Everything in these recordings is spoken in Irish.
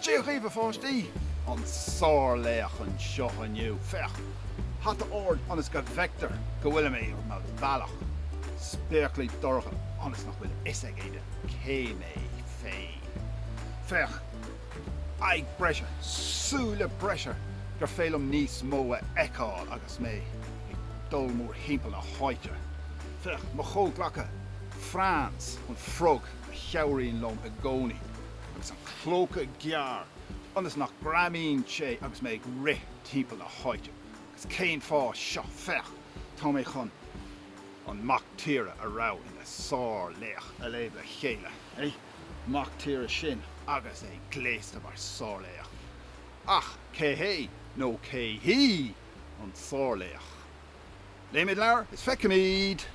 Dia dhaoibh a pháistí! An sárlaoch anseo inniu. Féach! Hata ard ionas go bhfeictear go bhfuil mé ar mo bhealach. Spéaclaí dorcha ionas nach bhfuil a fhios ag éinne cé mé féin. Féach! Aghaidh breise, súile breise, gur féidir liom níos mó a fheiceáil agus mé ag dul mórthimpeall na háite. Féach, mo chomhghleacaithe, Franz, an frog a chabhraíonn liom i gcónaí, agus an clóca gearr, ionas nach greamaíonn sé agus mé ag rith timpeall na háite. Agus cén fáth seo? Féach, tá mé chun an mac tíre a raibh ina shárlaoch a léamh le chéile. mac tíre sin agus é gléasta mar sárlaoch. Ach cé hé, nó cé hí, an sárlaoch? Léimid leabhar is feicfimid!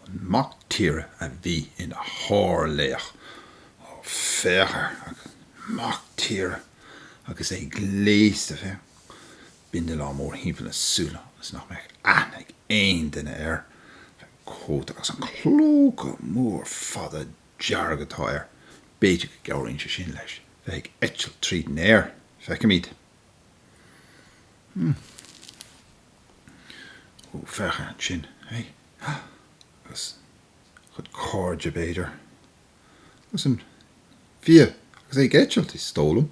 An mac tíre a bhí ina shárlaoch? Ó, féach air, an mac tíre agus é gléasta, féach, bindealán mórthimpeall na súl ionas nach mbeadh aithne ag aon duine air. cóta agus an clóca mór fada dearg atá air, b'fhéidir go gcabhraíonn sé sin leis bheith ag eitilt tríd an aer, feicfimid. Hum. Ó, féach ansin é, agus a chuid cairde, b'fhéidir. Agus an fia agus é ag eitilt, is dóigh liom.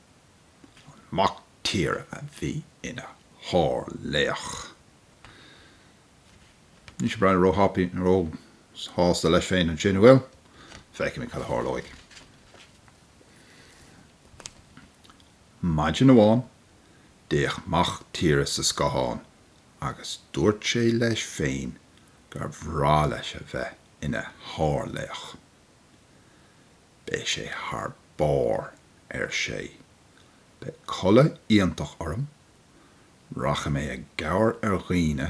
an mac tíre a bhí ina shár-laoch. Níl sé ag breathnú ró-happy, ró-shásta leis féin ansin, an bhfuil? Feicfimid cad a tharlóidh. Maidin amháin, d'fhéach mac tíre sa scáthán agus dúirt sé leis féin gur bhreá leis a bheith ina shár-laoch. Beidh sé thar barr, ar sé. Beidh culaith iontach orm, rachaidh mé i gcabhair ar dhaoine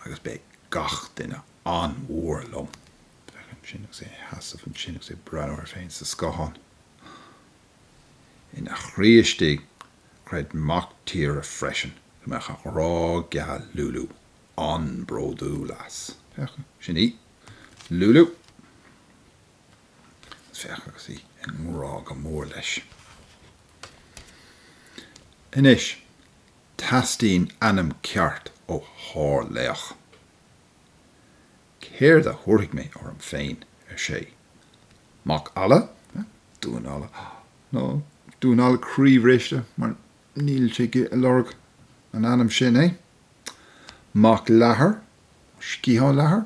agus beidh gach duine an-mhór liom. Féach ansin agus é ina sheasamh ansin agus é ag breathnú air féin sa scáthán. Ina chroí istigh, chreid mac tíre freisin go mbeadh a ghrá geal Lulu an-bhródúil as. Féach, sin í. Lulu. féach agus í i ngrá go mór leis. Anois, teastaíonn ainm ceart ó shárlaoch. Céard a thabharfaidh mé orm féin, ar sé. Mac Alla? Dún Alla? Nó Damhán Alla Croíbhriste, mar níl sé ag lorg an ainm sin, eh? Mac Leathair? Sciathán Leathair?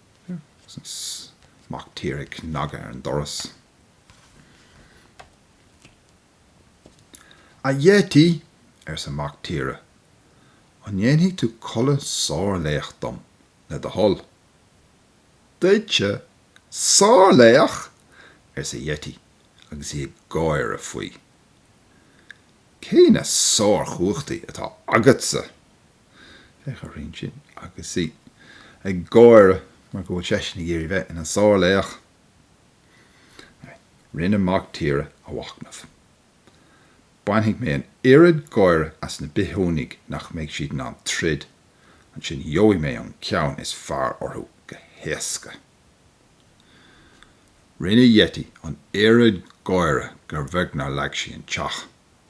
Mac tíre ag cnagadh ar an doras. A Yeti! arsa mac tíre. An ndéanfaidh tú culaith sárlaoch dom, le do thoil? Duitse? Sárlaoch? arsa Yeti agus í ag gáire faoi. Cé na sárchumhachtaí atá agatsa? Féach uirthi ansin agus í ag gáire mar go bhfuil seisean ag iarraidh bheith ina sárlaoch. Rinne mac tíre a mhachnamh. Bainfidh mé an oiread gáire as na bithiúnaigh nach mbeidh siad in ann troid, ansin gheobhaidh mé an ceann is fearr orthu go héasca. Rinne Yeti an oiread gáire gur bheag nár leag sí an teach.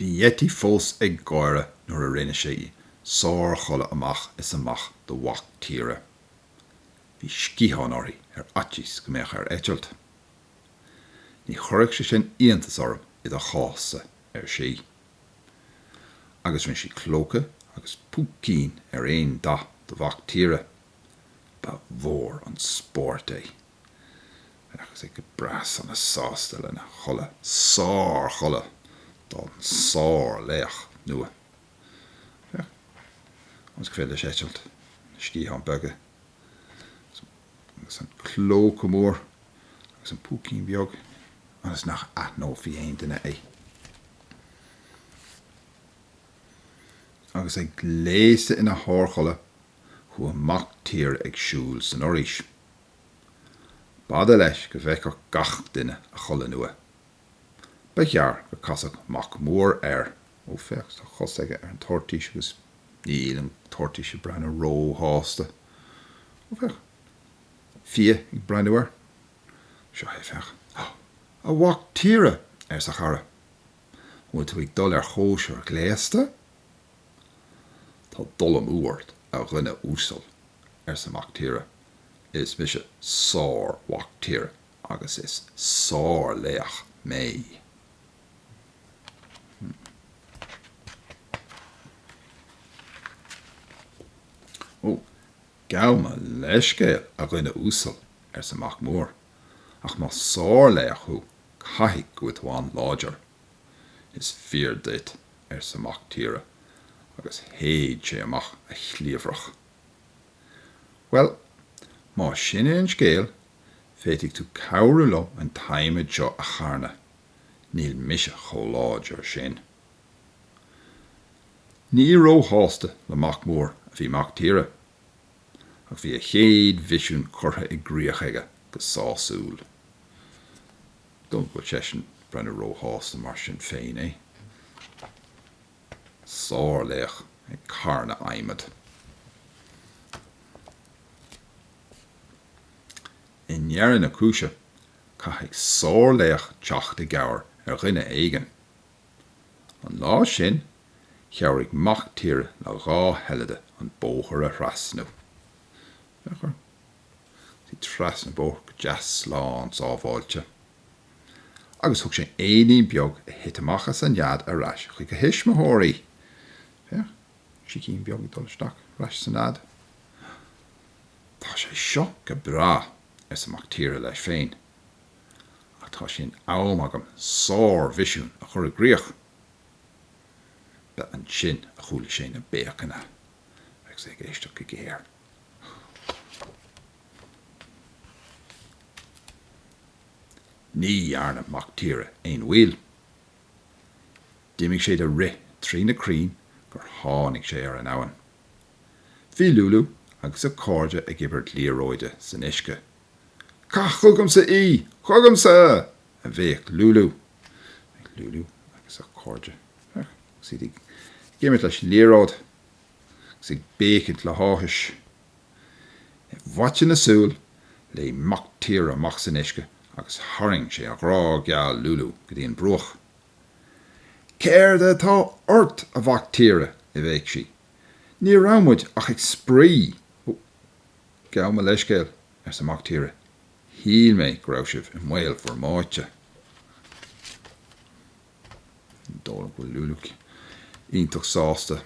Bhí Yeti fós ag gáire nuair a rinne sí sárchulaith amach is amach do mhac tíre. Bhí sciatháin uirthi ar fhaitíos go mbeadh air eitilt. Ní chuirfeadh sé sin iontas orm i do chás-sa, ar sí. Agus rinne sí clóca agus púicín ar aon dath do mhac tíre. Ba mhór an spórt é. agus é go breá sona sásta lena chulaith, sárchulaith don sárlaoch nua. Ionas gur féidir leis eitilt na sciatháin beaga, agus an clóca mór, agus an púicín beag, ionas nach aithneofaí aon duine é. Agus é gléasta ina shárchulaith, chuaigh mac tíre ag siúl san fhoraois. B'fhada leis go bhfeicfeadh gach duine a chulaith nua. Ba ghearr gur casadh mac mór air. Ó féach, tá a chos aige ar an toirtís agus níl an toirtís ag breathnú róshásta. Ó féach, fia ag breathnú air. Seo é, féach. Há! A mhac tíre! arsa a chara. An bhfuil tú ag dul ar chóisir ghléasta? Tá dul amú ort, a dhuine uasail, arsa mac tíre. Is mise sár-Mhac Tíre agus is sár-laoch mé. Ó, gabh mo leithscéal, a dhuine uasail, arsa Mac Mór, ach más sár-laoch thú, caithfidh go bhfuil tú an-láidir. Is fíor duit, arsa Mac Tíre, agus shéid sé amach a chliabhrach. Bhuel, má sin é an scéal, féadfaidh tú cabhrú liom an t-adhmad seo a charnadh. Níl mise chomh láidir sin. Ní róshásta le mac mór a bhí mac tíre. Ach bhí a chéad mhisiún curtha i gcríoch aige go sásúil. Dom ní bhfuil seisean ag breathnú róshásta mar sin féin, eh. sárlaoch ag carnadh adhmaid I ndeireadh na cúise, caithfidh sárlaoch teacht i gcabhair ar dhuine éigin. An lá sin, chabhraigh mac tíre le dhá sheilide an bóthar a thrasnú. ag tíocht trasna an bhóthair go deas slán sábháilte. agus thug sé éinín beag a thit amach as an nead ar ais chuig a thuismitheoirí. Féach, sicín beag ag dul isteach ar ais sa nead. Tá sé seo go breá, arsa Mac Tíre leis féin, ach tá sé in am agam sár-mhisiún a chur i gcríoch. Ba ansin a chuala sé na béiceanna agus é ag éisteacht go géar. Ní dhearna Mac Tíre aon mhoill. D'imigh sé de rith trí na crainn gur tháinig sé ar an abhainn. Bhí Lulu agus a cairde ag imirt liathróide san uisce. Caith chugamsa í! Chugamsa! a bhéic Lulu. Féach Lulu agus a cairde agus iad ag imirt leis an liathróid. agus ag béicint le háthas. I bhfaiteadh na súl, léim mac tíre amach san uisce agus tharraing sé a ghrá geal Lulu go dtí an bruach. Céard atá ort, a Mhac Tíre? a bhéic sí. Ní raibh muid ach ag spraoi! Ó, gabh mo leithscéal, arsa mac tíre, shíl mé go raibh sibh i mbaol bhur mbáite. Dóigh liom go bhfuil Lúlú iontach sásta.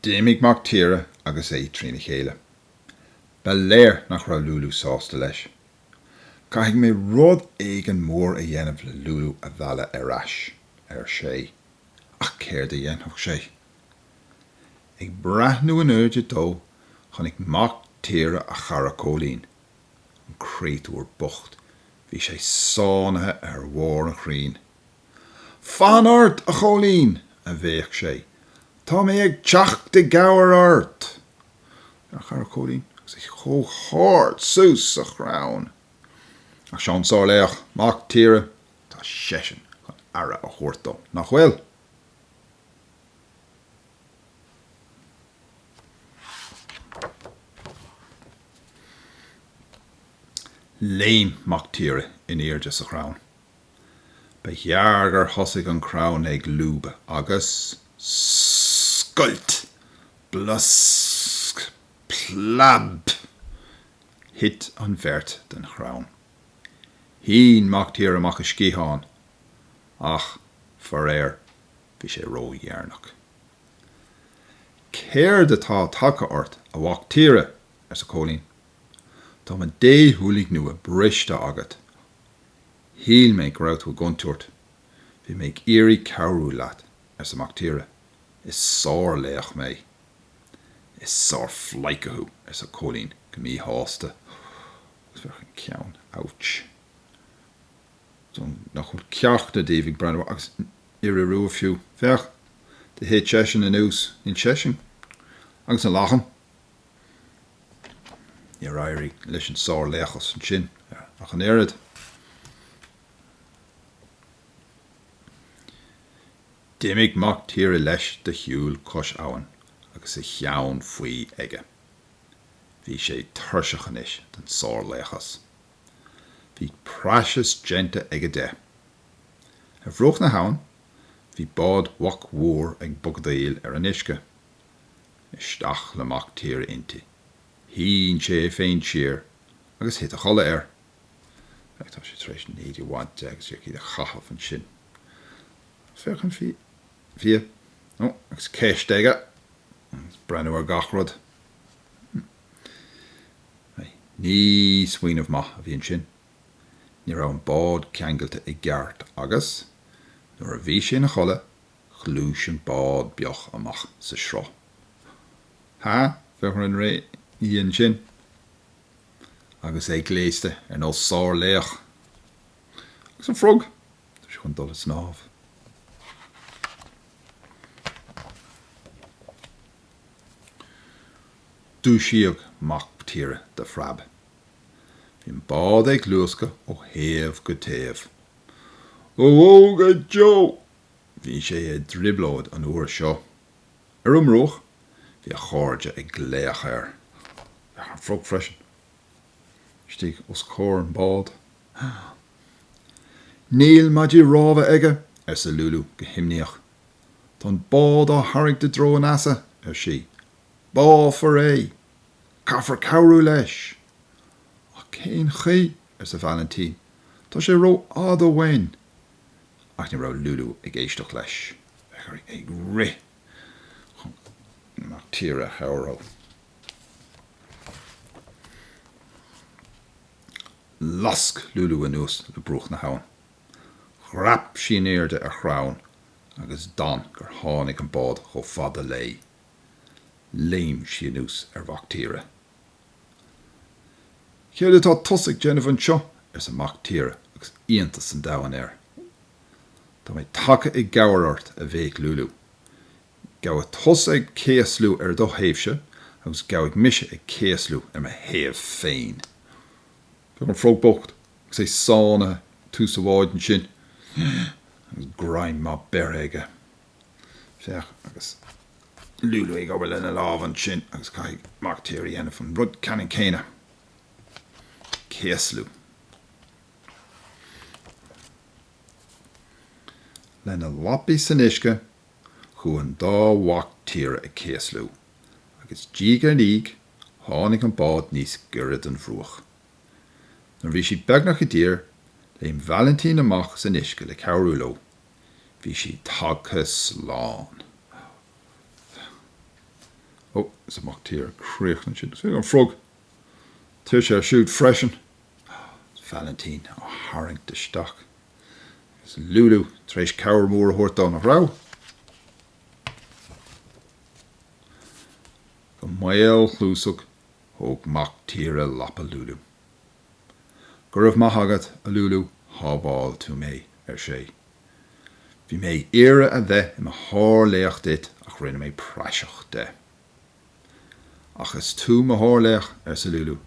D'imigh Mac Tíre agus é trína chéile. Ba léir nach raibh Lúlú sásta leis. Caithfidh mé rud éigin mór a dhéanamh le Lúlú a mhealladh ar ais, ar sé. Ach céard a dhéanfadh sé? Ag breathnú in airde dó, chonaic mac tíre a chara Cóilín. An créatúr bocht, bhí sé sáinnithe ar bharr an chrainn. Fan ort, a Chóilín! a bhéic sé. Tá mé ag teacht i gcabhair ort! A chara Cóilín agus é chomh hard suas sa chrann. Ach seo an sárlaoch, mac tíre, tá seisean chun aire a thabhairt dó, nach bhfuil? Léim Mac Tíre in airde sa chrann. Ba ghearr gur thosaigh an crann ag lúbadh agus scoilt! Blaosc! Plab! Thit an bheirt den chrann. Shín Mac Tíre amach a sciatháin. Ach, faraor, bhí sé ródheireanach. 'Céard atá tagtha ort, a mhac tíre? arsa Cóilín. 'Tá mo dhéshúiligh nua briste agat. Shíl mé go raibh tú i gcontúirt. 'Bhí mé ag iarraidh cabhrú leat, arsa Mac Tíre. 'Is sárlaoch mé. 'Is sárphleidhce thú, arsa Cóilín go míshásta agus féach an ceann. 'Ouch. nach bhfuil ceachtar díobh ag breathnú air agus iora rua fiú. Féach, do thit seisean anuas, níl seisean agus an lachan, níor éirigh leis an sárlaochas ansin ach an oiread. D'imigh mac tíre leis de shiúl cois abhann agus a cheann faoi aige. Bhí sé tuirseach anois den sárlaochas. Bhí praiseach déanta aige de. Ar bhruach na habhann bhí bád Mhaic Mhóir ag bogadaíl ar an uisce. Isteach le mac tíre inti. Shín sé é féin siar agus thit a chodladh air. Ach tá sé tar éis an éide a bhaint de agus díreach iad a chaitheamh ansin. Féach an fia. Ó, agus ceist aige! Agus breathnú ar gach rud. Ní smaoineamh maith a bhí ansin. Ní raibh an bád ceangailte i gceart agus, nuair a bhí sé ina chodladh, ghluais an bád beag amach sa sruth. Ha, féach an ré aoibhinn ansin, agus é gléasta ar nós sár-laoch. Agus an frog, tá sé chun dul ag snámh. Dúisíodh mac tíre de phreab. Bhí an bád ag luascadh ó thaobh go taobh. Ó bhó go deo! Bhí sé i dtrioblóid an uair seo. Ar an mbruach, bhí a chairde ag glaoch air. Féach an frog freisin istigh os comhair an bád. Níl maidí rámha aige, arsa Lulu go himníoch. Tá an bád á tharraingt i dtreo an easa, ar sí. Báfar é! Caithfear cabhrú leis! Ach cén chaoi? arsa Valentin. Tá sé ró-fhada uainn! Ach ní raibh Lulu ag éisteacht leis. Bhí sí ag rith chun mac tíre a chabhrú. Lasc Lulu anuas le bruach na habhann. Dhreap sí in airde ar chrann agus d'fhan gur tháinig an bád chomh fada léi. léim sí anuas ar Mhactíre. Céard atá tusa ag déanamh anseo? arsa Mactíre agus iontas an domhain air. Tá mé tagtha i gcabhair ort, a bhéic Lúlú. Gabhadh tusa ag céaslú ar do thaobhse agus gabhfaidh mise ag céaslú ar mo thaobh féin. Féach an frog bocht agus é sáinnithe i dtús an bháid ansin agus greim maith beirthe aige. Féach, agus Lulu ag obair lena lámh ansin, agus caithfidh Mactíre a dhéanamh an rud ceannann céanna. Céaslú. Lena lapaí san uisce, chuaigh an dá mhac tíre ag céaslú, agus diaidh ar ndiaidh, tháinig an bád níos gaire don bhruach. Nuair a bhí siad beagnach i dtír, léim Valentin amach san uisce le cabhrú leo, Bhí siad tagtha slán. Ó, is tá mac Tíre traochta ansin. Féach an frog. Tuirse air siúd freisin. Is Valentin á tharraingt isteach. Agus Lulu tar éis cabhair mhór a thabhairt dó, nach raibh? Go maolchluasach, thóg mac Tíre lapa Lulu. Go raibh maith agat, a Lulu, shábháil tú mé, ar sé. Bhí mé ag iarraidh a bheith i mo shárlaoch duit ach rinne mé praiseach de. Ach is tú mo shárlaoch, arsa Lulu,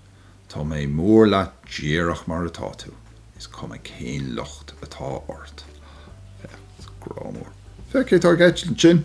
tá mé mór leat díreach mar atá tú, is cuma cén locht atá ort. Grá mór. Féach cé tá ag eitilt ansin!